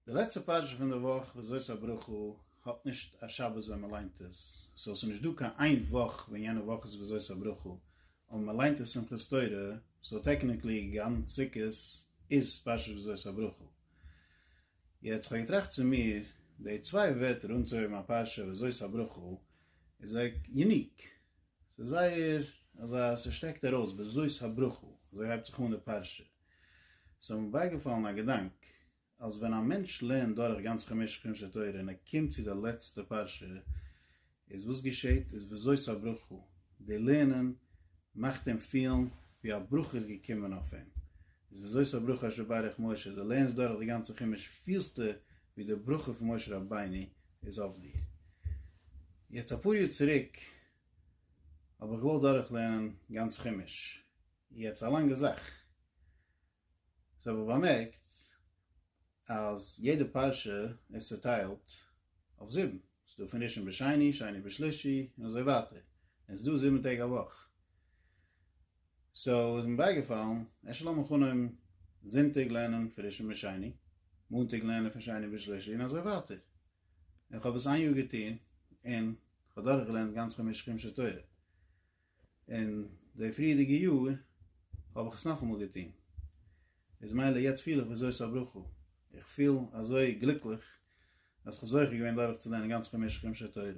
די לעצטע פרשה פון די וואך וזאת הברכה האט נישט א שבת ווען מען ליינט עס, סאו עס איז נישט דא קיין איין וואך ווען יענע וואך איז וזאת הברכה, אבער מען ליינט עס שמחת תורה, סאו טעקניקלי גאנץ סוכות איז פרשת וזאת הברכה. יעצט כ'האב געטראכט צו מיר, די צוויי ווערטער אנצוהויבן א פרשה וזאת הברכה איז זייער יוניק, ס'איז זייער אזא ס'שטעקט ארויס וזאת הברכה, אזוי הייבט זיך אן די פרשה, ס'האט מיר בייגעפאלן א געדאנק, אז ווען א מענטש לערנט דורך גאנץ חמשה חומשי תורה און ער קומט צו די לעצטע פרשה, איז וואס געשעהט איז וזאת הברכה, די לערנען מאכט אים פילן ווי א ברכה איז געקומען אויף אים, איז וזאת הברכה אשר ברך משה, די לערנסט דורך די גאנצע חומש פילסטו ווי די ברכה פון משה רבינו איז אויף דיר. יעצט אפאר יאר צוריק האב איך געוואלט דורכלערנען גאנץ חומש, יעצט א לאנגע זאך. זיי האבן באמערקט אז יעדע פרשה איז צוטיילט אויף זיבן. ס'איז דא פון ראשון ביז שני, שני ביז שלישי, און אזוי ווייטער. און ס'איז דא זיבן טעג א וואך. סאו איז מיר בייגעפאלן, אפשר לאמיר אנהויבן זונטאג לערנען פון ראשון ביז שני, מאנטאג לערנען פון שני ביז שלישי, און אזוי ווייטער. און כ'האב עס איין יאר געטון, און כ'האב דורכגעלערנט גאנץ חמש חומשי תורה. און די פריערדיגע יאר האב איך עס נאכאמאל געטון, איז מילא יעצט פיל איך וזאת הברכה, איך פיל אזוי גליקליך אז איך האב זוכה געווען דורך צו לערנען גאנץ חמשה חומשי תורה,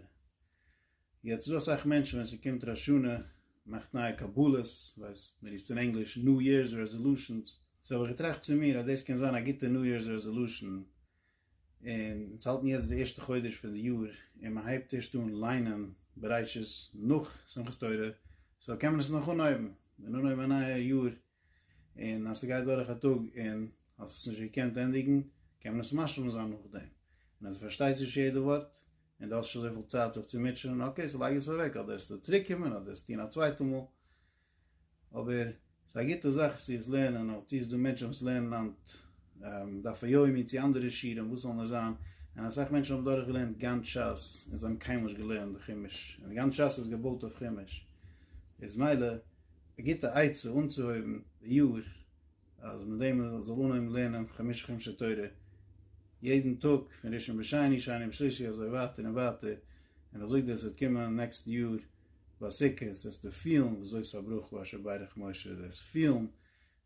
יעצט איז דא אסאך מענטשן ווען ס'קומט ראש השנה מאכט נייע קבלות, ווייסט מ'רופט עס אין ענגליש ניו יערס רעזעלושענס, סאו האב איך געטראכט צו מיר אז דאס קען זיין א גוטע ניו יערס רעזעלושען און אונז האלטן יעצט די ערשטע חודש פון די יאר, און מען הייבט ערשט אן ליינען בראשית נאך שמחת תורה, סאו קען מען עס נאך אנהויבן, און אנהויבן א נייע יאר, און אז ס'גייט דורך א טאג און האסט עס נישט געקענט ענדיגן, קען מען עס משלים זיין נאכדעם, און אז דו פארשטייסט נישט יעדע ווארט, און דו האסט שוין אזויפיל צייט זיך צו מוטשענען, אקעי, סאו לייג עס אוועק, אדער עס טאר צוריקקומען, אדער עס טון א צווייטע מאל. אבער ס'איז א גוטע זאך צו עס לערנען, אויב צו עס דא מענטשן וואס לערנען היינט דף היומי צו אנדערע שיעורים וואס זאל נאר זיין, און אסאך מענטשן האבן דורך געלערנט גאנץ שס און זיי האבן קיינמאל נישט געלערנט די חומש, און גאנץ שס איז געבויט אויף חומש, איז מילא א גוטע עצה אנצוהויבן די יאר אז מיט דעם מען זאל אנהויבן לערנען חמשה חומשי תורה יעדן טאג פון ראשון ביז שני, שני ביז שלישי אזוי ווייטער און ווייטער, און איך זאג דיר עס וועט קומען נעקסטן יאר. ביי סוכות זעסטו פילן וויאזוי ס'איז א ברוך הוא אשר ברך משה, דו וועסט פילן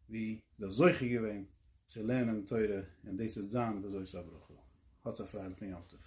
ווי דו האסט זוכה געווען צו לערנען תורה און דאס וועט זיין וויאזוי ס'איז א ברוך הוא. האטס א פרייליכן יום טוב.